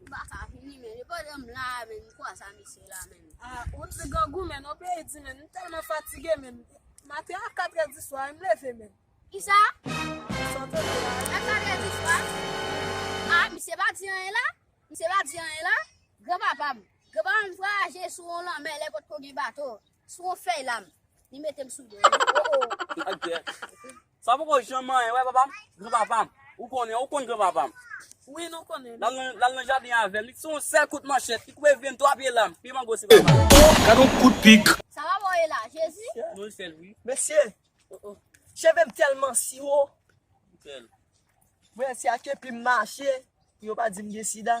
Ou pa ka vini men e pa janm la men m kwa sa mesye la men. Ah ou t nèg grangou menn ou peyi di menn m tèlman fatige menn maten a 4 è di swa em leve menn. Kisa? Sa w t di la? A 4 è di swa? Ah misye pa di anyen la? Misye pa di anyen la? Gran papa m, gran papa m vwayaje sou on lanmè lè potko gen bato, sou on fèy la m, li mete m sou do li. Oh oh. Sa poko janm manyen wè papa m. Gran papa m. Ou konnen, ou konn gran papa m. Wi nou konnen. L al nan jaden avè m. Li t se yon sèl kout manchèt. Li koupe vye m twa pye lam. Pye mango se papa m. Gad yon kout pik. Sa papa w ye la, Jezi? Non li fè l wi. Mesye, cheve m tèlman siwo. Li fè l. Mwen se ak epi m mache pou yo pa di m gen sida.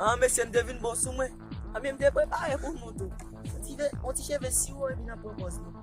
An mesye m te vin bon sou mwen. An men m te prepare pou nou tou. On ti cheve siwo epi nan pran pòz nou.